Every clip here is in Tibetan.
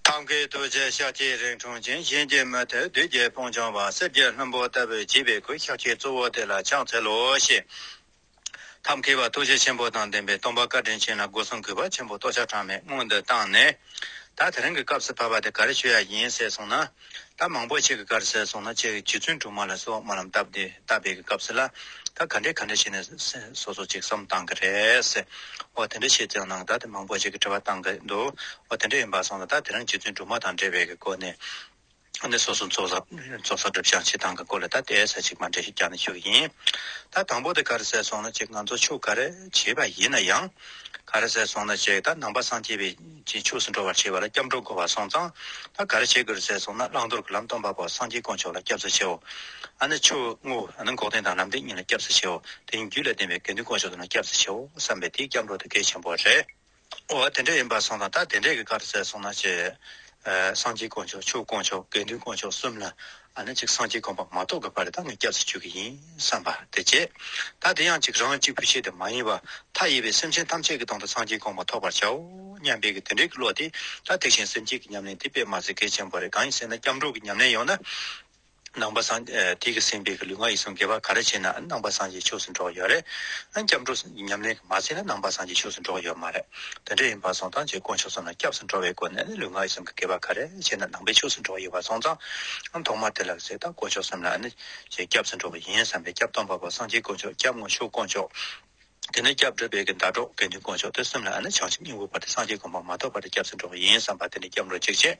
ཐབས་མཁས་རྡོ་རྗེ་ཤཱཀ་ཐའི་རིང་ཁྲུང་ཆེན་གཤིན་རྗེ་མ་ཐོད་བདུད་རྒྱལ་སྤུངས་ལྗོངས་པ་གསེར་གྱི་ལྷུན་པོ་ལྟ་བུའི་བྱིས་པའི་གུར་ཤག་ཆེན་གཙོ་བོ་དེ་ལ་ཕྱག་འཚལ་ལོ་ཞེས། ཐབས་མཁས་པ་ཐུགས་རྗེ་ཆེན་པོ་དང་ལྡན་པའི་སྟོང་པ་བཀའ་དྲིན་ཆེན་ལ་སྒོ་སྲུང་གུས་པ་ཆེན་པོ་ལྟོ་ཆག་གྲངས་མེད་སྔོན་དུ་བཏང་ནས། ད་དེ་རིང་གི་སྐབས་སུ་བབས་པ་དེ་ག་རེ་ཆོས་ཡ་ཡིན་ཟེར་སོང་ན། ད་མང་པོ་ཁྱེད་ཀྱི་དཀར་ཟལ་སོང་ན་ཁྱེད་ཀྱི་རྗེ་བཙུན་དྲུག་མ་ལ་སོགས་མ་རྣམས་སྟབས་བདེ་ལྟ་བས་ཀྱི་སྐབས་སུ་ལ་ད་ག་འདྲས་ག་འདྲས་བྱས་ནས་སོ་སོ་ཅིག་བསམ་བཏང་གི་རེད། འོ་དེ་འདྲས་བྱས་ཙང་ནང་ད་དེ་མང་པོ་ཁྱེད་ཀྱི་དྲི་བ་བཏང་གི་འདུག་འོ་དེ་འདྲས་ཡིན་པ་སོང་ལ་ད་དེ་རང་རྗེ་བཙུན་དྲུག་མ་དང་འབྲེལ་བས་ཀྱི་སྐོར་ནས་ནས་སོ་སོ་ཚོགས་བསགས་སྒྲུབ་བྱང་ཆེ་ཐང་གི་སྐོར་ལ་ད་དེ་ས་ཅིག་མ་འདྲས་ཤིག་རྒྱག་ནས་ཞུ་གི་ཡིན། ད་དང་པོ་དེ་དཀར་ཟལ་སོང་ན་ཁྱེད་ང་ཚོ་ཆོས་ག་རེ་བྱས་པ་ཡིན་ན་ཡང། ག་རེ་ཟལ་སོང་ན་ཁྱེད་ད་ནང་པ་སངས་རྒྱས་པའི། ཅེས་ཕྱོགས་སུ་འགྲོ་བར་བྱེད་པ་ལ་སྐྱབས་འགྲོ་བསྒོ་བ་སོང་ཙང་ད་ག་རེ་བྱེད་དགོས་རེད་ཟེར་སོང་ན་བླང་དོར་གྱི་ལམ་སྟོན་པ་པོ་སངས་རྒྱས་དཀོན་མཆོག་ལ་སྐྱབས་སུ་མཆིའོ། ཨ་ནི་ཆོས་དངོས་ཨ་ནི་འགོག་བདེན་དང་ལམ་བདེན་གཉིས་ལ་སྐྱབས་སུ་མཆིའོ། དེ་བཞིན་རྒྱུད་ལ་བདེན་པའི་དགེ་འདུན་དཀོན་མཆོག་དེ་ལ་སྐྱབས་སུ་མཆིའོ་བསམ་པས་དེ་སྐྱབས་འགྲོ་དེ་གལ་ཆེན་པོ་རེད། འོ་དེ་འདྲ་ཡིན་པར་སོང་ཙང་ད་དེ་འདྲས་ཀྱི་ག་རེ་ཟེར་སོང་ན་ཅེས། སངས་རྒྱས་དཀོན་མཆོག་ཆོས་དཀོན་མཆོག་དགེ་འདུན་དཀོན་མཆོག་གསུམ་ལ་ཨ་ནི་ཅིག་སངས་རྒྱས་དགོངས་པ་མ་རྟོགས་གི་བར་དག་ནས་སྐྱབས་སུ་མཆི་གི་ཡིན་བསམ་པ་དེ་བྱེད། ད་དེ་ཡང་ཅིག་རང་གཅིག་པུ་ཤེས་དེ་མ་ཡིན་པར་མཐའ་ཡས་པའི་སེམས་ཅན་ཐམས་ཅད་ཀྱི་དོན་དུ་སངས་རྒྱས་དགོངས་པ་ཐོབ་པར་བྱའོ་སྙམ་པའི་གི་དེ་འདྲའི་གི་བློ་དེ་ད་ཐེག་ཞིང་སེམས་བསྐྱེད་ཀྱི་ཉམས་ལེན་དེ་དཔེ་མ་ཟད་གལ་ཆེན་པོ་རེད་གང་ཡིན་ཟེར་ན་སྐྱབས་འགྲོ་གི་ཉམས་ལེན་ཡོང་ན། ནང་པ་སངས། དེ་གི་སེམས་དཔའི་གི་ལུས་ངག་ཡིད་གསུམ་དགེ་བ་ག་རེ་བྱས་ནའང་ནང་པ་སངས་རྒྱས་ཆོས་སུ་འགྲོ་གི་ཡོད་རེད། ཨ་སྐྱབས་འགྲོ་གི་ཉམས་ལེན་གི་མ་བྱས་ན་ནང་པ་སངས་རྒྱས་ཆོས་སུ་འགྲོ་གི་ཡོད་མ་རེད། དེ་འདྲ་ཡིན་པ་སོང་ཙང་རྗེས་དགོངས་ཕྱོགས་སུ་ན་སྐྱབས་སུ་འགྲོ་བའི་སྒོ་ནས་ལུས་ངག་ཡིད་གསུམ་གྱི་དགེ་བ་ག་རེ་བྱས་ན་ནང་པའི་ཕྱོགས་སུ་འགྲོ་བ་ཡོད་པ་སོང་ཙང། ཐོག་མར་དེ་ལ་ཟད་ད་དགོངས་ཕྱོགས་སམ་ན་ནི་རྗེས་སྐྱབས་སུ་འགྲོ་བ་ཡིན་བསམ་པའི་སྐྱབས་སྟོང་པ་པོ་སངས་རྒྱས་དཀོན་མཆོག་སྐྱབས་དངོས་ཤུགས་དཀོན་མཆོག། དེ་ནས་སྐྱབས་འགྲོ་དཔལ་གྱི་ཟླ་གྲོགས་དགེ་འདུན་དཀོན་མཆོག་དེ་གསུམ་ལ་ནི་བྱང་ཆུབ་སྙིང་པོ་བར་དུ་སངས་རྒྱས་དགོངས་པ་མ་ཐོབ་བར་དུ་སྐྱབས་སུ་འགྲོ་བ་ཡིན་བསམ་པ་དེ་ནས་སྐྱབས་འགྲོ་གཅིག་བྱས།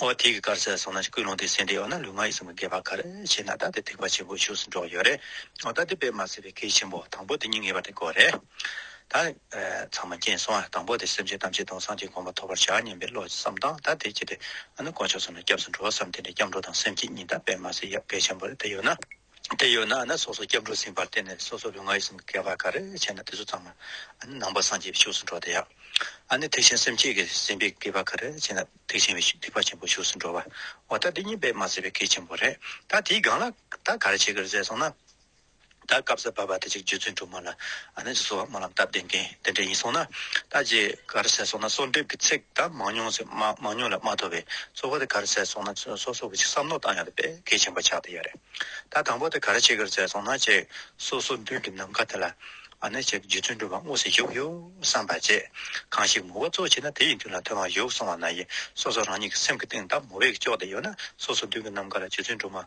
ཨོ་ཐིག་གི་དཀར་ཟལ་སོགས་ནང་བཞིན་ཀུན་སློང་དེ་གསན་ཏེ་ཨོ་ན་ལུས་ངག་ཡིད་གསུམ་གྱི་དགེ་བ་གར་བྱེད་ན་ད་དེ་ཐེག་པ་ཆེན་པོའི་ཕྱོགས་སུ་འགྲོ་གི་ཡོད་རེད། ཨོ་ད་དེ་དཔེ་མ་ཟད་པའི་གེགས་ཆེན་པོ་དང་པོ་དེ་སྙིང་ངེས་པ་དེ་དགོས་རེད། ད། ཚང་མ་རྐྱེན་སོང་ཡང་དང་པོ་དེ་སེམས་ཅན་ཐམས་ཅད་དོན་སངས་རྒྱས་དགོངས་པ་ཐོབ་པར་བྱ་སྙམ་པའི་བློ་བསམ་དང་ད་དེ་བསྐྱེད་དེ་ཨོ་ན་དཀོན་མཆོག་ཚང་ནས་སྐྱབས་སུ་འགྲོ་བསམ་དེ་འདྲའི་སྐྱབས་འགྲོ་དང་སེམས་བསྐྱེད་གཉིས་ད་དཔེ་མ་ཟད་ཡབ་དགེ་ཆེན་པོ་རེད་ད་ཡོད་ན། དེ་ཡོད་ན་ནི་སོ་སོ་སྐྱབས་འགྲོ་ཟིན་པར་བརྟེན་ནས་སོ་སོ་ལུས་ངག་ཡིད་གསུམ་གྱི་བསྐལ་པ་ག་རེ་བྱས་ན་དེ་ཚོ་ཙམ་ལ་ནང་པ་སངས་རྒྱས་པའི་ཕྱོགས་སུ་འགྲོ་བ་དང། ཡང་ན་ཐེག་ཆེན་སེམས་བསྐྱེད་ཀྱི་ཟིན་པའི་བསྐལ་པ་ག་རེ་བྱས་ན་ཐེག་ཆེན་བའི་སྡིག་པ་ཆེན་པོའི་ཕྱོགས་སུ་འགྲོ་བ། འོ་ད་འདི་གཉིས་པས་མ་ཟད་པའི་གལ་ཆེན་པོ་རེད། ད་དེའི་སྒང་ལ་ད་ག་རེ་བྱེད་དགོས་རེད་ཟེར་སོང་ན། ད་སྐབས་སུ་བབས་པ་དེ་ཅིག་རྗེ་བཙུན་སྒྲོལ་མ་ལ་ཨ་ནེ་ཅི་སོགས་སྨོན་ལམ་སྟབས་བདེ་མཁན་དེ་འདྲ་ཡིན་སོང་ན། ད་རྗེས་གར་ཟེར་སོང་ན་གསོལ་འདེབས་ཀྱི་ཚིག་དག་མང་ཉུང་ཟེར་མང་ཉུང་ལས་མ་ཐོབ་པས་གཙོ་བོ་དེ་གར་ཟེར་སོང་ན་ཚོད་སོ་སོ་གི་ཅིག་བསམ་མནོ་བཏང་ཡོང་དུ་དཔེ་གལ་ཆེན་པོ་ཆགས་དེ་ཡོད་རེད། ད་དང་པོ་དེ་གར་ཅིག་གར་ཟེར་སོང་ན་ཅེས་སོ་སོ་མདུན་གྱི་ནམ་མཁའ་དེ་ལ་ཨ་ནེ་ཅིག་རྗེ་བཙུན་སྒྲོལ་མ་དངོས་སུ་བཞུགས་ཡོད་བསམ་པ་བཅས་གང་ཞིག་མོ་བ་གཙོ་བྱས་ན་དེ་ཡི་མདུན་ལ་དོན་མ་བཞུགས་སོང་བ་ན་ཡིན་སོ་སོ་རང་ཉིད་ཀྱི་སེམས་ཀྱི་གཏིང་དག་མོ་བས་ཀྱི་ལྕོགས་དེ་ཡོད་ན་སོ་སོ་མདུན་གྱི་ནམ་མཁའ་ལ་རྗེ་བཙུན་སྒྲོལ་མ།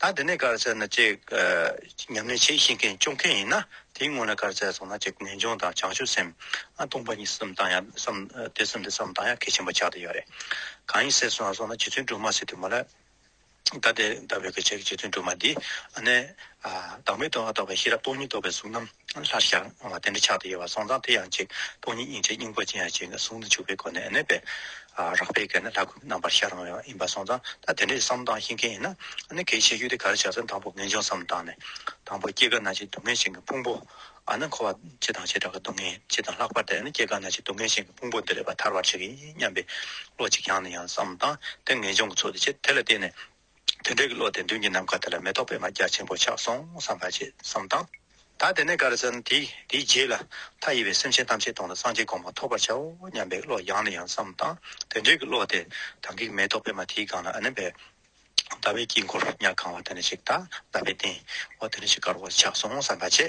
ད་འདི་ནས་གར་བྱས་ན་ཅིག། ཉམས་ལེན་བྱེད་ཤེས་མཁན་སྐྱོབ་མཁན་ཡིན་ན་དེའི་སྔོན་ལ་གར་བྱས་སོང་ན་ཅིག་ངེས་འབྱུང་དང་བྱང་ཆུབ་སེམས། སྟོང་པ་ཉིད་གསུམ་བཏང་ཡང་བསམ། དེ་གསུམ་དེ་བསམ་བཏང་ཡང་གལ་ཆེན་པོ་ཆགས་དེ་ཡོད་རེད། གང་ཡིན་ཟེར་སོང་ང་སོང་ན་རྗེ་བཙུན་སྒྲོལ་མ་ཟེར་དུས་མ་ལ། ད་དེ་ལྟ་བུའི་གར་བྱས་ཀྱི་རྗེ་བཙུན་སྒྲོལ་མ་འདིས། བདག་མེད་དོན་ལ་རྟོགས་པའི་ཤེས་རབ་སྟོང་ཉིད་རྟོགས་པའི་གཟུགས་རྣམས་ལྷར་ཤར། དེ་འདྲ་ཆགས་དང་དབྱེ་བ་སོང་ཙང་དེ་ཡང་གཅིག་སྟོང་ཉིད་དབྱིངས་ཆེན་སྙིང་པོ་ཅན་ཡང་གཅིག་གཟུགས་ནི་འཇུག་པའི་སྒོ་ནས་གནས་པས། རགས་པའི་གེགས་ནི་ལྷ་སྐུ་རྣམ་པར་ཤར་རུང་བའི་ཡིན་པར་སོང་ཙང་ད་དེ་འདྲའི་བསམ་སྟངས་ཤེས་མཁན་ཡིན་ན། ནི་གེགས་ཆེ་ཤོས་དེ་ག་རེ་བྱ་ཙང་དང་པོ་ངེས་འབྱུང་བསམ་སྟངས་ནི། དང་པོ་སྐྱེ་རྒ་ན་འཆིའི་སྡུག་བསྔལ་ཞིང་གི་ཕུང་པོ། ནི་འཁོར་བ་སྤྱི་དང་བྱེ་བྲག་གི་སྡུག་བསྔལ་སྤྱི་དང་ལྷག་པར་དུ་སྐྱེ་རྒ་ན་འཆིའི་སྡུག་བསྔལ་ཞིང་གི་ཕུང་པོ་འདི་རེ་བ་ཐར་བར་བྱེད་ཀྱི་ཡིན་སྙམ་པའི་བློ་གཅིག་རྐྱང་ནི་ཡང་བསམ་སྟངས་དེ་ངེས་འབྱུང་གི་ཚོགས་དེ་ཆེ་དེ་ལ་བརྟེན་ནས། དེ་འདྲའི་བློ་དེ་མདུན་གྱི་ནམ་མཁའ་དེ་ལ་མེ་ཏོག་པད་མ་རྒྱ་ཆེན་པོ་ཆགས་སོང་བསམ་པ་ཅི་བསམ་དང། ད་དེ་ནས་གར་ཟན་དེས་དེའི་རྗེས་ལ་མཐའ་ཡས་པའི་སེམས་ཅན་ཐམས་ཅད་དོང་ལ་སངས་རྒྱས་དགོངས་པ་ཐོབ་པར་བྱའོ་སྙམ་པའི་བློ་ཡང་ནས་ཡང་བསམ་དང། དེ་འདྲའི་བློ་དེ་དང་གིས་མེ་ཏོག་པད་མ་དེའི་སྒང་ལ་ཨ་ནི་བས། ཟླ་བའི་དཀྱིལ་འཁོར་ཉག་གང་བ་དེ་ནས་ཞིག་དང་ཟླ་བའི་སྟེང་འོག་དེ་ནས་ཞིག་དཀར་བོ་ཆགས་སོང་བསམ་པ་ཅི།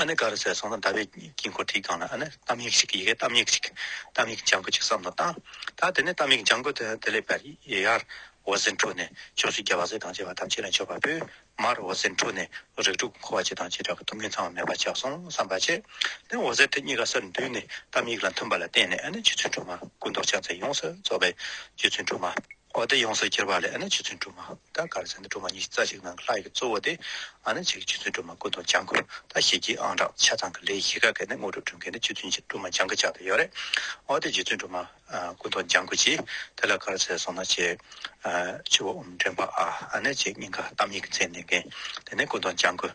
ཨ་ནི་ག་རུ་ཟད་སོང་ན་ཟླ་བའི་དཀྱིལ་འཁོར་དེའི་སྒང་ལ་ཨ་ནི་གཏམ་ཡིག་ཞིག་གི་ཡི་གེ་གཏམ་ཡིག་ཅིག་གཏམ་ཡིག་ལྗང་གུ་ཅིག་བསམ་དང་བཏང། ད་དེ་ནས་གཏམ་ཡིག་ལྗང་གུ་དེ་ལས་བར་ཡར་འོད་ཟེར་འཕྲོས་ནས་ཕྱོགས་བཞི་རྒྱལ་བ་སྲས་དང་བཅས་པ་ཐམས་ཅད་ལ་མཆོད་པ་ཕུལ། མར་འོད་ཟེར་འཕྲོས་ནས་རིགས་དྲུག་གི་འཁོར་བ་བྱེད་དང་བྱེ་བྲག་གི་ཐུགས་ངན་ཚང་བ་མེད་པར་ཆགས་སོང་བསམ་པ་བྱས། དེ་འོད་ཟེར་དེ་གཉིས་ཀ་སར་འདུས་ནས་གཏམ་ཡིག་ལ་མཐུན་པ་ལ་བརྟེན་ནས་ཨ་ནི་རྗེ་བཙུན་སྒྲོལ་མ་སྐུ་མདོག་ཕྱག་མཚན་ཡོངས་སུ་རྫོགས་པའི་རྗེ་བཙུན་སྒྲོལ་མ། གོ་བདེ་ཡོངས་སུ་གྱུར་པ་ལས་ཨ་ནི་ཕྱི་ཚུལ་སྒྲུབ་མ་ད་གར་ཚེ་འདི་སྒྲུབ་མ་གཉིས་རྩ་གཅིག་ནང་གི་ལྷ་ཡི་གཙོ་བོ་སྟེ་ཨ་ནི་ཕྱི་གི་ཕྱི་ཚུལ་སྒྲུབ་མ་ཀུན་ཏུ་སྦྱང་དགོས་ད་ཞེས་བགྱི་ཨང་བྲག་ཆ་ཚང་གི་ལས་བཞི་ག་གེ་ནི་དངོས་གྲུབ་སྒྲུབ་མཁན་ནི་ཕྱི་ཚུལ་སྒྲུབ་མ་སྦྱང་གི་ཆ་དུ་ཡོད་རེད་ཨོ་དེ་རྗེ་བཙུན་སྒྲུབ་མ་ཀུན་ཏུ་སྦྱང་དགོས་ཀྱི་དེ་ལ་གར་ཚེ་སོང་ན་ཆེ། ཆུ་བོ་འོམ་འདྲེན་པ་ཨ་ནི་ཆེ་སྙིང་ག་གཏམ་ཡིག་གི་ཚད་ལྡན་མཁན་དེ་ནི་ཀུན་ཏུ་སྦྱང་དགོས།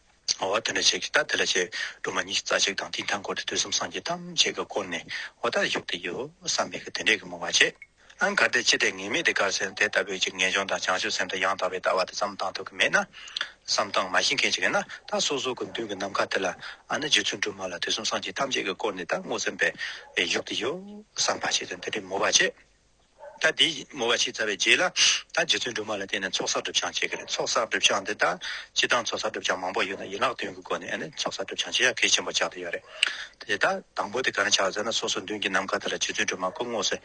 འོ་དེ་འདྲ་བྱེད་ཀྱི་ད་དེ་ལ་བྱེད་སྒྲོལ་མ་གཉིས་ཀྱི་རྩ་གཅིག་དང་དེའི་མཐའ་འཁོར་དུ་དུས་གསུམ་སངས་རྒྱས་ཐམས་ཅད་ཀྱི་སྐོར་ནས་འོ་དར་བཞུགས་ཏེ་ཡོད་བསམ་མེད་ཀྱི་དེ་འདྲའི་གི་མོ་བ་བྱེད། ཨང་གར་དེ་ཅི་སྟེ་ངེས་མེད་དེ་གར་སེམས་དེ་ལྟ་བུའི་གཅིག་ངེས་འབྱུང་དང་བྱང་ཆུབ་སེམས་དང་ཡང་དག་པའི་ལྟ་བ་དེ་བསམ་གཏང་ཐུབ་ཀྱི་མེད་ན། བསམ་གཏང་མ་ཤེས་མཁན་ཅིག་ཡིན་ན་ད་སོ་སོ་གི་མདུན་གྱི་ནམ་མཁའ་དེ་ལ་ཨ་ནི་རྗེ་བཙུན་སྒྲོལ་མ་ལ་དུས་གསུམ་སངས་རྒྱས་ཐམས་ཅད་ཀྱི་སྐོར་ནས་ད་སྔོ་སེམས་པས་བཞུགས་ཏེ་ཡོད་བསམ་པ་བྱེད་དེ་འདི་འདྲའི་མོ་བ་བྱེད། ད་དེ་མོ་བ་ཕྱི་ཚ་བའི་རྗེས་ལ་ད་རྗེ་བཙུན་སྒྲོལ་མ་ལ་བསྟན་ནས་ཚོགས་བསགས་སྒྲུབ་བྱང་བྱེད་ཀྱི་རེད་ཚོགས་བསགས་སྒྲུབ་བྱང་འདི་ད་སྤྱི་དང་ཚོགས་བསགས་སྒྲུབ་བྱང་མང་པོ་ཡོད་ན་ཡིན་ལག་དོན་གྱི་སྒོ་ནས་ཚོགས་བསགས་སྒྲུབ་བྱང་བྱེད་ཡ་གལ་ཆེན་པོ་ཆགས་ཏེ་ཡོད་རེད་དེ། ད་དང་པོ་དེ་ག་རང་ཆགས་ཟེར་ན་སོ་སོ་མདུན་གྱི་ནམ་མཁའ་དེ་ལ་རྗེ་བཙུན་སྒྲོལ་མ་སྐུ་དངོས་སུ་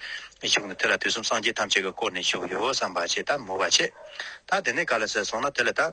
བཞུགས་ནས་དེ་ལ་དུས་གསུམ་སངས་རྒྱས་ཐམས་ཅད་ཀྱི་བསྐོར་ནས་བཞུགས་ཡོད་བསམ་པ་བྱེད་ད་མོ་བ་ཕྱེད་ད་དེ་ནས་ག་ལ་ཟེར་སོང་ན་དེ་ལ་ད།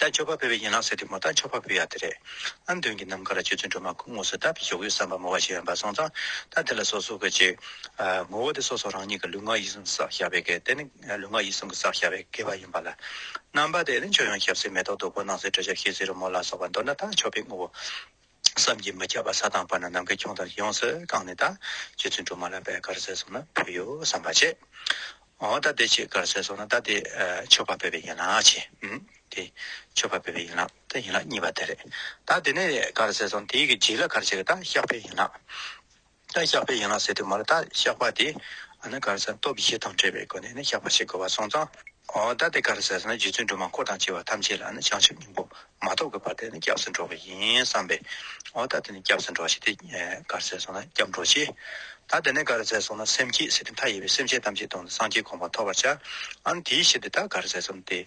ད་ཆོས་པ་ཕུལ་བའི་ཡན་ལག་ཟེར་དུས་མོ་ད་ཆོས་པ་ཕུལ་ཡག་དེ་རེད་ཨང་དོན་གྱི་ནམ་མཁའ་ལ་ཆོས་ཚུལ་འགྲོ་མ་ཁུག་ངོ་སོས་ད་ཕི་ཞོག་གོས་བསམ་པ་མོ་བ་ཞིག་ཡང་འབའ་སོང་ཙང་ད་དེ་ལ་སོ་སོ་གོས་ཅིག་ངོ་བོ་དེ་སོ་སོ་རང་ཉིད་ཀྱི་ལུས་ངག་ཡིད་གསུམ་གྱི་སག་ཞབས་པའི་གེགས་དེ་ནི་ལུས་ངག་ཡིད་གསུམ་གྱི་སག་ཞབས་པའི་གེགས་བ་ཡིན་པ་ལ་རྣམ་པ་དེ་ནི་ཆོས་ཡང་ཞབས་སེ་མེ་ཏོག་རྡོག་པོ་སྣང་སེ་དྲི་ཞབས་ཤེས་སེ་རི་མོ་ལ་སོགས་པ་མདོར་ན་ད་ཆོས་པའི་ངོ་བོ། བསམ་གྱིས་མི་ཁྱབ་པ་ས་དང་བར་ན་ནམ་མཁའི་ཁྱུང་ལྟར་ཡོངས་སུ་བཀང་ནས་ད་ཁྱེད་ཚོའི་འབྲུ་མ་ལ་བད་གར་ཟས་སོང་ན་ཕོད་ཡོད་བསམ་པ་བྱེད། འོ་ད་དེ་ཁྱེད་གར་ཟས་སོང་ན་ད་དེ་ཆོས་པ་བོད་པའི་ཡིན་ལགས་བྱས། འམ། དེ་ཆོས་པ་བོད་པའི་ཡིན་ལགས་ད་ཡིན་ལགས་གཉིས་པ་དེ་རེད། ད་དེ་ནས་གར་ཟས་སོང་དེའི་གི་རྗེས་ལ་གར་བྱས་གི་ད་ཤག་བོད་ཡིན་ལགས། རྟ་བཤགས་པའི་ཡན་ལག་ཟེར་དུ་མར་རྟ་བཤགས་པ་དེ་ནི་གར་སའི་སྟོབས་བཞི་དང་བྲལ་བའི་སྒོ་ནས་ནི་བཤགས་པ་བྱེད་དགོས་པར་སོང་ཙང། རྟ་དེ་གར་སའི་ནི་རྗེ་བཙུན་སྒྲོལ་མ་འཁོར་དང་བཅས་པ་ཐམས་ཅད་ལ་ནི་བྱང་ཆུབ་སྙིང་པོ་མ་ཐོབ་ཀྱི་བར་དེ་ནི་སྐྱབས་སུ་འགྲོ་བ་ཡིན་བསམས་པས། རྟ་དེ་ནི་སྐྱབས་སུ་འགྲོ་ཞེས་ཏེ། གར་སའི་སོང་ན་སྐྱབས་འགྲོ་ཆེ། རྟ་དེ་ནི་གར་སའི་སོང་ན་སེམས་སྐྱེད་ཟེར་ཏེ་མཐའ་ཡས་པའི་སེམས་ཅན་ཐམས་ཅད་དོང་ནས་སངས་རྒྱས་དགོངས་པ་ཐོབ་པར་བྱ། འམ་དེའི་ཕྱིར་དེ་རྟ་གར་སའི་སོང་སྟེ།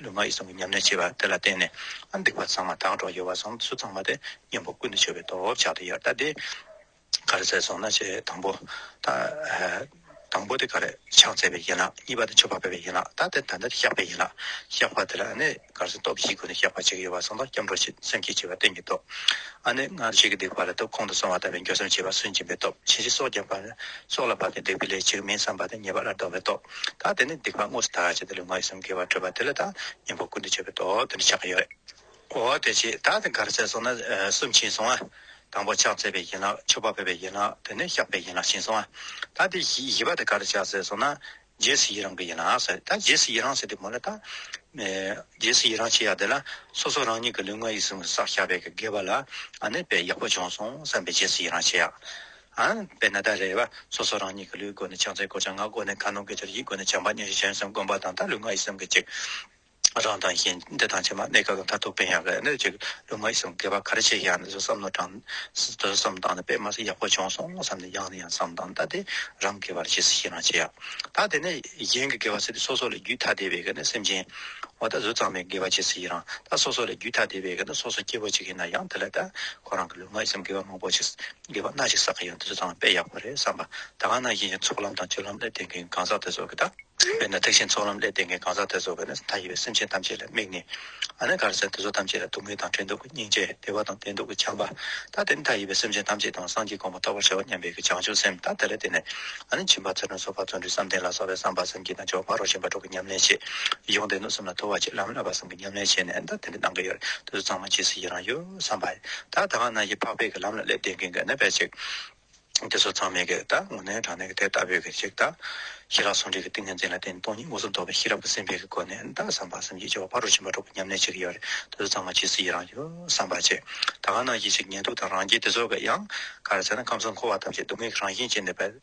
ལུས་ངག་ཡིད་གསུམ་གྱི་ཉམས་ལེན་བྱེད་པ་དེ་ལ་བརྟེན་ནས་སྡིག་པ་ཚང་མ་དག་གྲོགས་ཡོད་པ་ཚང་སུ་ཚང་མ་དེ་གཉེན་པོ་ཀུན་ཏུ་སྤྱོད་པའི་སྟོབས་ཆགས་དེ་ཡར་བལྟ་སྟེ། ག་རེ་བཙལ་སོང་ན་ཞེས་དང་པོ། དང་པོ་དེ་ག་རེ་ཕྱག་བཙལ་བའི་ཡན་ལག་གཉིས་པ་དེ་མཆོད་པ་འབུལ་བའི་ཡན་ལག་ད་ལྟ་དེ་བཤགས་པའི་ཡན་ལག་བཤགས་པ་དེ་ལ་ནི་ག་རེ་སྟོབས་བཞིས་ཀུན་ནས་བཤགས་པ་བྱེད་ཀྱི་ཡོད་པ་ཚང་དང་སྐྱབས་འགྲོ་ཞེས་སེམས་བསྐྱེད་བྱེད་པ་བསྟན་གྱི་སྟོབས། ནི་སྔར་བྱས་ཀྱི་སྡིག་པ་ལ་དུག་ཁོང་དུ་སོང་བ་ལྟ་བུའི་འགྱོད་སེམས་བྱེད་པ་སུན་འབྱིན་པའི་སྟོབས་བྱིན་གྱིས་སྲོག་བརྒྱབ་པ། སྲོག་ལ་བབས་ཏེ་སྡིག་པའི་ལས་བྱེད་མིན་བསམ་པ་དེ་ཉེས་པ་ལ་འགྲོ་བའི་སྟོབས། ད་དེ་ནས་སྡིག་པ་དངོས་སུ་དག་ཅེས་དེ་ལས་ང་ཡི་སེམས་སྐྱེ་བར་སྤྲོས་པ་དེ་ལ་ད་གཉེན་པོ་ཀུན་ཏུ་སྤྱོད་པའི་དོགས་འདི་འདྲ་ཆགས་ཀྱི་ཡོད། འོ་དེ་ཅི་ད་དེ་གར་ཚད་སོང་ན་གསུམ་ཕྱིན་སོང་ང། དང་པོ་ཕྱག་འཚལ་བའི་ཡན་ལག་མཆོད་པ་འབུལ་བའི་ཡན་ལག་དེ་ནས་བཤགས་པའི་ཡན་ལག་ཕྱིན་སོང་ང། ད་དེ་བཞི་པ་དེ་གར་ཆགས་ཚད་སོང་ན་རྗེས་སུ་ཡི་རང་གི་ཡན་ལག་ཟེར་ད་རྗེས་སུ་ཡི་རང་ཟེར་དེ་མོ་ལ་ད། རྗེས་སུ་ཡི་རང་བྱེད་ཡག་དེ་ལ་སོ་སོ་རང་ཉིད་ཀྱི་ལུས་ངག་ཡིད་གསུམ་གྱི་བསགས་བྱ་བས་ཀྱི་དགེ་བ་ལ་ཨ་ནི་དཔེ་ཡག་པོ་བྱུང་སོང་བསམ་པའི་རྗེས་སུ་ཡི་རང་བྱེད་ཡག། དཔེར་ན་ད་རེས་པ་སོ་སོ་རང་ཉིད་ཀྱི་ལུས་སྒོ་ནས་ཕྱག་མཚན་སྐོར་བྱ་ངག་སྒོ་ནས་གང་གནང་གི་ཕྱིར་ཡིད་སྒོ་ནས་བྱམས་པ་གཉེར་ཞེས་གཞན་སེམས་བསྒོམ་པ་དང་ད་ལུས་ངག་ཡིད་གསུམ་གྱི་གཅིག་རང་དང་གཞན་འདི་དང་ཕྱི་མ་གནས་སྐབས་ལ་མཐར་ཐུག་ཕན་ཡང་གནས་འདི་གཅིག་ལུས་ངག་ཡིད་གསུམ་གྱི་བར་ག་རེ་བྱས་ཀྱང་ནི་བསམ་མནོ་དྲང་དོན་བསམ་དང་ནི་དཔེ་མ་ཟད་ཡག་པོ་བྱུང་སོང་ངོ་བསམ་ནས་ཡང་ནས་ཡང་བསམ་དང་ད་དེ་རང་གི་བར་ཇི་སྲིད་ཤེས་ན་བྱས་ཡག་ད་དེ་ནས་གཞན་གྱི་དགེ་བ་སྲིད་དུ་སོ་སོ་ལས་རྒྱུད་ཐ་དད་པའི་གནས་སེམས་ཅན་འོ་ད་གཟུགས་གཙང་མའི་དགེ་བ་ཇི་སྲིད་ཡིན་རང་ད་སོ་སོ་ལས་རྒྱུད་ཐ་དད་པའི་གནས་སོ་སོ་སྐྱེ་བོ་གཅིག་ཡིན་ན་ཡང་དེ་ལ་ད་ཁོ་རང་གི་ལུས་ངག་ཡིད་གསུམ་གྱི་བར་མང་པོ་ཞིག་དགེ་བ་སྣ་གཅིག་བསགས་ཀྱི་ཡང་དེ་ཚོ་ཚང་དཔེ་ཡག་པོ་རེད་བསམ་པ། ད་གང་ན་ཡིན་ཡང་ཚོགས་ལམ་དང་སྤྱོད་ལམ་སླེབས་བསྡད་མཁན་གང་ཟག་དེ་ཚོ་གི་ད། དཔེར་ན་ཐེག་ཆེན་ཚོགས་ལམ་སླེབས་བསྡད་མཁན་གང་ཟག་དེ་ཚོ་གི་ནི་ད་ཡི་བའི་སེམས་ཅན་ཐམས་ཅད་ལ་དམིགས་ནས། ཨ་ནི་གར་སེམས་དེ་ཚོ་ཐམས་ཅད་ལ་སྡུག་བསྔལ་དང་འཕྲད་འདོད་ཀྱི་སྙིང་རྗེ་བདེ་བ་དང་ལྡན་འདོད་ཀྱི་བྱམས་པ། ད་དེ་ནི་ད་ཡི་བའི་སེམས་ཅན་ཐམས་ཅད་དང་སངས་རྒྱས་དགོངས་པ་རྟོགས་པར་བྱ་བ་སྙམ་པའི་གི་བྱང་ཆུབ་སེམས་ད་དེ་ལ་བརྟེན་ནས། ཨ་ནི་བྱིན་པ་ཚུལ་ཁྲིམས་སོ་ཕག་བརྩོན་འགྲུས་བསམ་གཏན་ལ་སོགས་པའི་བསམ་པ་སེམས་ཀྱི་ན་འཇོག་ཕ་རོལ་ཕྱིན་པ་གྲོགས་ཀྱི་ཉམས་ལེན་བྱེད། ཡོངས་འདས་གནོད་སེམས་ལ་ཐོ་བ་བྱེད་ལམ་བསླབ་པ་གསུམ་གྱི་ཉམས་ལེན་བྱས་ནས་ད་དེ་འདི་གནང་གི་ཡོད་རེད་དེ་ཚོ་ཚང་མ་ཇི་སྲིད་ཡི་རང་ཡོད། བསམ་པ། ད་ལྟ་ང་རྣམས་ཀྱིས་འཕགས་པའི་ལམ་ལ་སླེབས་བསྡད་མཁན་གྱི་ནད་པའི་ཚིག། དེ་ཚོ་ཚང་མས་གིས་ད་ངོ་ནའི་དྲང་གནས་ཀྱི་དེ་ལྟ་བུའི་གི་ཞིག་ད། ཞི་རགས་ཟུང་འབྲེལ་གྱི་ཏིང་ངེ་འཛིན་ལ་བརྟེན་སྟོང་ཉིད་སྔོ་སོགས་འདོགས་པའི་ཤེས་རབ་ཀྱི་སེམས་དཔའི་གི་སྒོ་ནས་ད་བསམ་པ་སེམས་ཀྱི་སྐྱེ་བ་ཕ་རོལ་ཕྱིན་པ་འགྲོ་དགོས་སྙམ་ནས་ཅིག་ཡོད་རེད་དེ་ཚོ་ཚང་མ་ཇི་སྲིད་ཡིད་རང་ཡོད་བསམ་པ་བྱས། ད་ང་རྣམས་ཀྱིས་ཅིག་ཉལ་འདུག་དང་རང་རྒྱལ་དེ་ཚོ་གི་ཡང། ག་རེ་བྱས་ན་ཁམས་གསུམ་འཁོར་བ་ཐམས་ཅད་སྡུག་བསྔལ་གྱི་རང་བཞིན་ཅན་ནད་པའི།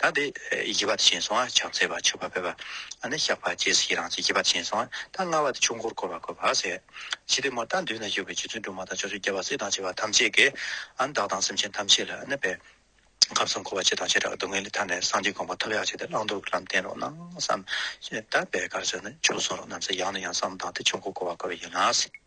ད་དེ་བཞི་པ་དེ་བྱིན་སོང་ང་ཕྱག་འཚལ་བ་མཆོད་པ་ཕེབས་པ་ནི་བཤགས་པ་རྗེས་སུ་ཡི་རང་བྱེད་བཞི་པ་དེ་བྱིན་སོང་ང་ད་ལྔ་བ་དེ་ཆོས་འཁོར་བསྐོར་བ་བསྐོར་བར་ཟད། ཇི་སྟེ་མོ་ད་མདུན་ན་བཞུགས་པའི་རྗེ་བཙུན་སྒྲོལ་མ་དང་ཕྱོགས་བཅུའི་རྒྱལ་བ་སྲས་དང་བཅས་པ་ཐམས་ཅད་ཀྱིས་བདག་དང་སེམས་ཅན་ཐམས་ཅད་ལ་གནོད་པའི་ཁམས་གསུམ་འཁོར་བ་སྤྱི་དང་བྱེ་བྲག་གི་སྡུག་བསྔལ་ལས་ཐར་ནས་སངས་རྒྱས་དགོངས་པ་ཐོབ་ཡག་བྱས་ཏེ་བླང་དོར་གྱི་ལམ་བསྟན་རོགས་གནང་བསམ། ད་བད་གར་ཟེར་ནས་ཆོས་གསུང་རོགས་གནང་བསམ་ཡང་ནས་ཡང་བསམ་བདག་དེ་ཆོས་འཁོར་བསྐོར་བ་བསྐོར་བ་ཡིན་ལགས།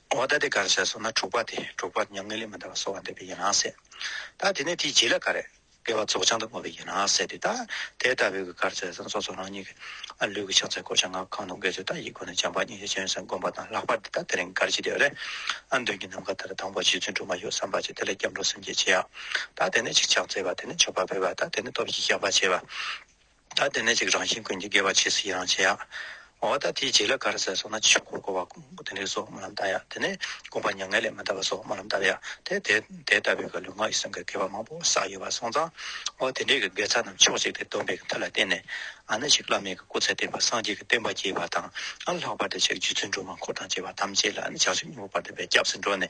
འོ་ད་དེ་གར་བྱས་སོང་ན་དྲུག་པ་དེ་དྲུག་པ་མྱ་ངན་ལས་མི་འདའ་བ་གསོ་བ་འདོད་པས་ཡིན་ནང་གསལ། ད་དེ་ནས་དེའི་རྗེས་ལ་ག་རེ། དགེ་བ་རྫོགས་བྱང་དུ་བསྔོ་བས་ཡིན་ནང་གསལ་ཏེ་ད། དེ་ལྟ་བུའི་གི་གར་བྱས་སོང་སོ་སོ་རང་ཉིད་ཀྱི། ལུས་ཀྱི་ཕྱག་མཚན་བསྐོར་བྱ་སྔགས་གང་དུ་འགལ་ཚུལ་དག་ཡིད་ཀུན་ནས་སྦྱངས་པ་ཉིད་ཀྱི་སྤྱན་ཟུང་བསྒོམ་པ་དང་ལྷག་པར་དུ་ད་དེ་རིང་གར་བྱེད་དེ་རེད། ཨ་མདུན་གྱི་ནམ་མཁའ་ལྟར་དང་པོ་རྗེ་བཙུན་སྒྲོལ་མ་ཡོད་བསམ་པ་བྱས་དེ་ལ་སྐྱབས་འགྲོ་སེམས་བསྐྱེད་བྱས། ད་དེ་ནས་ཆིག་ཆག་བརྩེགས་པ་དེ་ནས་མཆོད་པ་འབུལ་བ་ད་དེ་ནས་སྟོབས་བཞིས་བཤགས་པ་བྱས་པ། ད་དེ་ནས་ཅིག་རང་བཞིན་ཀུན་གྱི་དགེ་བ་བྱས་སུ་ཡི་རང་བྱེད་ཡ། འོ་ད་དེའི་རྗེས་ལ་ག་རེ་ཟེར་སོང་ན་ཕྱི་འཁོར་འཁོར་བ་ཀུན་དགུ་དེ་འདྲའི་སོགས་སྨོན་ལམ་བཏབ་ཡ་དེ་ནས་དགོངས་པ་མྱ་ངན་ལས་མི་འདའ་བ་སོགས་སྨོན་ལམ་བཏབ་ཡ་དེ་དེ་དེ་ལྟ་བུའི་ག་ལུས་ངག་ཡིད་གསུམ་གའི་དགེ་བ་མང་པོ་བསགས་ཡོད་པ་སོང་ཙང། འོ་དེ་འདྲའི་གི་དགེ་རྩ་རྣམས་ཕྱོགས་གཅིག་སྟེ་སྡོམ་པའི་གི་མཐུ་ལ་བརྟེན་ནས་ཨ་ན་ཅིག་བླ་མེད་གི་སྐུ་ཚེ་བརྟན་པ་སངས་རྒྱས་ཀྱི་བསྟན་པ་རྒྱས་པ་དང་ཨ་ལྷག་པར་དུ་ཅིག་རྗེ་བཙུན་སྒྲོལ་མ་འཁོར་དང་བཅས་པ་ཐམས་ཅད་ལ་ཨ་ན་ཅག་ཆོས་ཉིད་པོ་བར་འདོད་པའི་སྐྱབས་སུ་འགྲོ་ནས།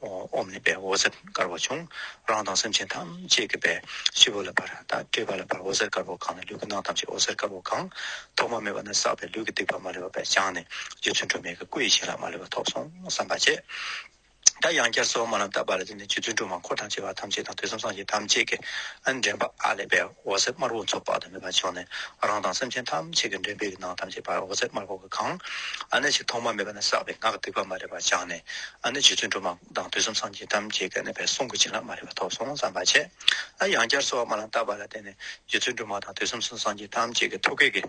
འོམ་ནི་བའི་འོད་ཟེར་དཀར་པོ་བྱུང། རང་དང་སེམས་ཅན་ཐམས་ཅད་ཀྱི་བས་སྤྱི་བོ་ལ་བར་དག་བྲིས་པ་ལ་བར་འོད་ཟེར་དཀར་པོ་གང་ནས་ལུས་ཀྱི་ནང་ཐམས་ཅད་འོད་ཟེར་དཀར་པོ་གང། ཐོག་མ་མེད་པ་ནས་བསགས་པའི་ལུས་ཀྱི་སྡིག་པ་མ་ལུས་པ་བས་སྦྱངས་ནས་རྗེ་བཙུན་སྒྲོལ་མའི་གི་སྐུ་ཡི་བྱིན་རླབས་མ་ལུས་པ་ཐོབ་སོང་བསམ་པ་བྱས། ད་ཡང་བསྐྱར་གསོལ་བ་མ་ལམ་བཏབ་པ་ལ་བརྟེན་ནས་རྗེ་བཙུན་སྒྲོལ་མ་འཁོར་དང་བཅས་པ་ཐམས་ཅད་དང་ཐོས་བསམ་སངས་རྒྱས་ཐམས་ཅད་ཀྱི་འདྲེན་པ་ཨ་ལས་པའི་འོད་ཟེར་དམར་པོ་མཚོ་དཔག་ཏུ་མེད་པ་ཕྱུང་ནས་རང་དང་སེམས་ཅན་ཐམས་ཅད་ཀྱི་མགྲིན་པའི་ནང་ཐམས་ཅད་བར་འོད་ཟེར་དམར་པོ་གང་ཨ་ཅིག་ཐོག་མ་མེད་པ་ནས་བསགས་པའི་ངག་གི་ཐིགས་པ་མ་རིག་པ་སྦྱངས་ནས་ཨ་ནི་རྗེ་བཙུན་སྒྲོལ་མ་དང་དུས་གསུམ་སངས་རྒྱས་ཐམས་ཅད་ཀྱི་གནས་པའི་གསུང་གི་བྱིན་རླབས་མ་རིག་པ་ཐོབ་སོང་བསམ་པ་བྱས། ཡང་བསྐྱར་གསོལ་བ་མ་ལ་བཏབ་པ་ལ་བརྟེན་ནས་རྗེ་བཙུན་སྒྲོལ་མ་དང་དུས་གསུམ་སངས་རྒྱས་ཐམས་ཅད་ཀྱི་ཐུགས་བསྐྱེད་ཀྱི།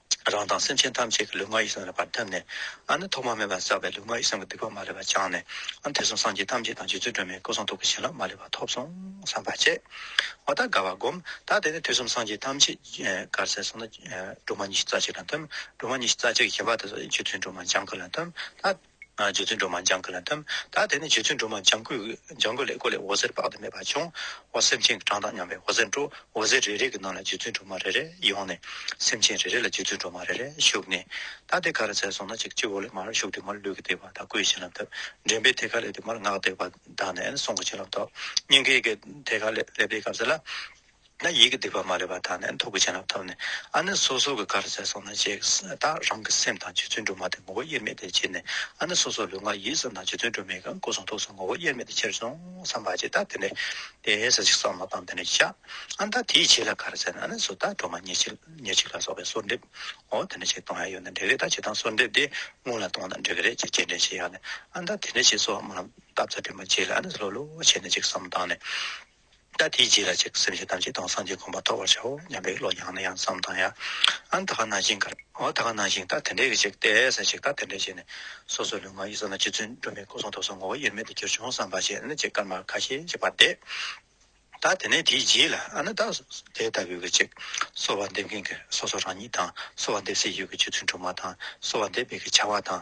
རང་དང་སེམས་ཅན་ཐམས་ཅད་ཀྱི་ལུས་ངག་ཡིད་གསུམ་རབ་འབར་ཐིམ་ནས། ནི་ཐོག་མ་མེད་པར་བསགས་པའི་ལུས་ངག་ཡིད་གསུམ་གྱི་སྡིག་པ་མ་ལུས་པ་སྦྱངས་ནས། དེ་གསུམ་སངས་རྒྱས་ཐམས་ཅད་དང་རྗེ་བཙུན་སྒྲོལ་མའི་སྐུ་གསུང་ཐུགས་ཀྱི་བྱིན་རླབས་མ་ལུས་པ་ཐོབ་སོང་བསམ་པར་བྱས། བ་དག་དགའ་བར་བསྒོམ། ད་དེ་ནས་དུས་གསུམ་སངས་རྒྱས་ཐམས་ཅད་གར་གསལ་སོང་ན། སྒྲོལ་མ་ཉི་ཤུ་རྩ་གཅིག་ལ་འཐིམ། སྒྲོལ་མ་ཉི་ཤུ་རྩ་གཅིག་གི་བྱིན་པ་དེ་ཚོ་རྗེ་བཙུན་སྒྲོལ་མ་ལྗང་ཁུ་ལ་འཐིམ། ད། རྗེ་བཙུན་སྒྲོལ་མ་འཇང་དགུ་ལ་འདེམས། ད་དེ་ནས་རྗེ་བཙུན་སྒྲོལ་མ་འཇང་དགུ་ལས་སྐོར་ལས་འོད་ཟེར་དཔག་ཏུ་མེད་པ་བྱུང། འོ་སེམས་ཅན་གྱི་གྲངས་དང་མཉམ་པའི་འོད་ཟེར་འཕྲོ། འོད་ཟེར་རེ་རེ་གི་ནང་ལ་རྗེ་བཙུན་སྒྲོལ་མ་རེ་རེ་ཡོང་ནས། སེམས་ཅན་རེ་རེ་ལ་རྗེ་བཙུན་སྒྲོལ་མ་རེ་རེ་ཞུགས་ནས། ད་དེ་ག་རེ་ཚལ་སོང་ན་ཅིག་སྤྱི་བོ་ལས་མར་ཞུགས་ཏེ་མར་ལུས་ཀྱི་བརྟེགས་པ་དང་སྐུའི་བྱིན་རླབས་དབབ། འདྲེན་པས་ཐད་ཀར་སླེབས་ཏེ་མར་སྔགས་བཏེགས་པ་དང་ནས་སྲུང་གི་བྱིན་རླབས་ཐོབ། སྙིང་གའི་དེ་ག་ལས་སླེབས་པའི་སྐབས་སུ་ལ། ན་ཡིད་ཀྱི་སྡིག་པ་མ་རིག་པ་དག་ནས་མཐུ་བུ་བྱིན་རླབས་ཐོབ་ནས་ཨ་ནི་སོ་སོ་གི་གར་ཟས་སོང་ན་ཅེས་བརྟག་རང་གི་སེམས་དང་རྗེ་བཙུན་སྒྲོལ་མ་དེ་ངོ་བོ་དབྱེར་མེད་དེ་ཕྱིར་ནས་ཨ་ནི་སོ་སོ་ལུས་ངག་ཡིད་གསུམ་དང་རྗེ་བཙུན་སྒྲོལ་མའི་གང་སྐུ་གསུང་ཐུགས་སུ་ངོ་བོ་དབྱེར་མེད་དེ་ཕྱིར་སོང་བསམ་པ་ཅི་ལྟར་དེ་ནས་དེ་ཟ་ཞིག་བསམ་མོ་དང་དེ་ནས་བཞག་ཨ་ད་དེའི་ཕྱི་ལ་གར་ཟས་ན་ཨ་ནི་སོ་ད་སྒྲོལ་མ་ཉེར་གཅིག་ལ་སོགས་པའི་སོར་འདེབས་འོ་དེ་ནས་ཆེ་གཏོང་ཡ་ཡོད་ན་འགྲིག་རེད་ད་ཆེ་གཏོང་སོར་འདེབས་དེ་སྔོན་ལ་གཏོང་ན་འགྲིག་གི་རེད་ཅེས་སྤྱན་འདྲེན་བྱེད་ཡ་ནས་ཨ་ད་དེ་ནས་ཆེ་སོགས་མ་ལ་བཏབ་ཚ་དྲིན་པ་ཆེ་ལ་ཨ་ནི་ལྷོད་ལྷོད་བྱས་ནས་ཅིག་བསམ་མོ་དང་ནས། ད་དེའི་རྗེས་ལ་ཅིག་སེམས་ཅན་ཐམས་ཅད་དང་སངས་རྒྱས་དགོངས་པ་ཐོབ་པར་བྱའོ་སྙམ་པའི་བློ་ཡང་ནས་ཡང་བསམ་དང་ཡང་ཨང་ད་ག་ན་ཞིང་ག་ཨང་ད་ག་ན་ཞིང་ད་དེ་འདྲའི་ཅིག་སྟེ་ཟེར་ཅིག་ད་དེ་འདྲའི་ཅིག་ནི་སོ་སོའི་ལུས་ངག་ཡིད་གསང་ལ་རྗེ་བཙུན་སྒྲོལ་མའི་སྐུ་གསུང་ཐུགས་སུ་ངོ་བོ་དབྱེར་མེད་དུ་གྱུར་བྱུང་བསམ་པ་ཅན་ཅིག་དཀར་དམར་ཁ་ཞེས་བྱ་བ་སྟེ། ད་དེ་ནས་དེའི་རྗེས་ལ་ཨ་ན་ད་དེ་ལྟ་བུའི་གི་ཅིག་གསོལ་བ་འདེབས་མཁན་གྱི་སོ་སོ་རང་ཉིད་དང་གསོལ་བ་འདེབས་སའི་ཡུལ་གྱི་རྗེ་བཙུན་སྒྲོལ་མ་དང་གསོལ་བ་འདེབས་པའི་གི་བྱ་བ་དང་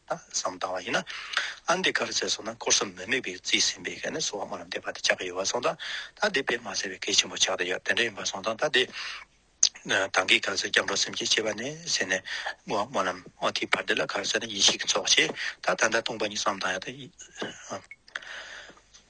བསམ་བཏང་བ་ཡིན་ན། ཨན་དེ་གར་ཟེར་སོང་ན་ཀོར་སོ་མི་དམིགས་པའི་རྩིས་ཟིན་པའི་གནས་སུའང་མ་རུང་དེ་བར་དུ་ཆགས་ཀྱི་ཡོད་བ་སོང་ད་ད་དེ་བས་མ་ཟེར་བའི་གལ་ཆེན་པོ་ཆགས་ཏེ་ཡོད་དེ་འདྲ་ཡིན་པ་སོང་ད་ད་དེ་དང་གི་གར་ཟེར་སྐྱབས་འགྲོ་སེམས་ཀྱི་སྐྱེ་བ་ནས་ཟེར་ནས་ངོ་མ་ནམ་འོ་དེའི་བར་དེ་ལ་གར་ཟེར་ན་ཡིན་ཞིག་གི་ཚོགས་ཆེ་ད་ད་ད་སྟོང་པ་ཉིད་བསམ་བཏང་ཡོད་དེ།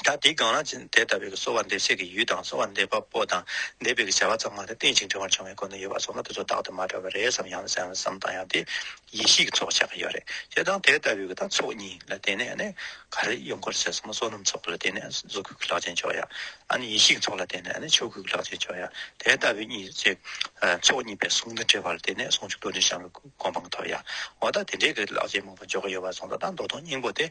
ད་དེའི་སྒང་ལ་དེ་ལྟ་བུའི་གསོ་བ་འདེབས་སའི་གི་ཡུལ་དང་གསོ་བ་འདེབས་པ་པོ་དང་འདེབས་པའི་གི་བྱ་བ་ཚང་མ་དེ་རྟེན་ཅིང་འབྲེལ་བར་འབྱུང་བའི་སྒོ་ནས་ཡོད་པ་སོགས་ན་དེ་ཚོ་བདག་ཏུ་མ་བཀྲལ་བ་རེད་བསམ་ཡང་བསམ་བསམ་དང་ཡང་དེ་ཡེ་ཤེས་ཀྱི་ཚོགས་ཆགས་ཀྱི་ཡོད་རེད་ཞེས་དང་དེ་ལྟ་བུའི་གི་དང་ཚོགས་གཉིས་ལ་བརྟེན་ནས་ནི་ག་རེ་ཡོང་སྐོར་བྱས་སོང་ན་བསོད་ནམས་ཚོགས་ལ་བརྟེན་ནས་གཟུགས་སྐུའི་གི་ལག་ཆེན་འཇོག་ཡ་ཨ་ནི་ཡེ་ཤེས་ཀྱི་ཚོགས་ལ་བརྟེན་ནས་ནི་ཆོས་སྐུའི་གི་ལག་ཆེན་འཇོག་ཡ་དེ་ལྟ་བུའི་གཉིས་ཚེ་ཚོགས་གཉིས་པའི་ཟུང་དུ་འབྲེལ་བ་ལ་བརྟེན་ནས་ཟུང་འཇུག་རྡོ་རྗེ་འཆང་བའི་གོ་འཕང་ཐོབ་ཡ་འོ་ད་དེ་འདྲའི་གི་ལག་ཆེན་མང་པོ་འཇོག་གི་ཡོད་པ་སོང་ད་ད་མདོ་སྟོང་སྙིང་པོ་དེ།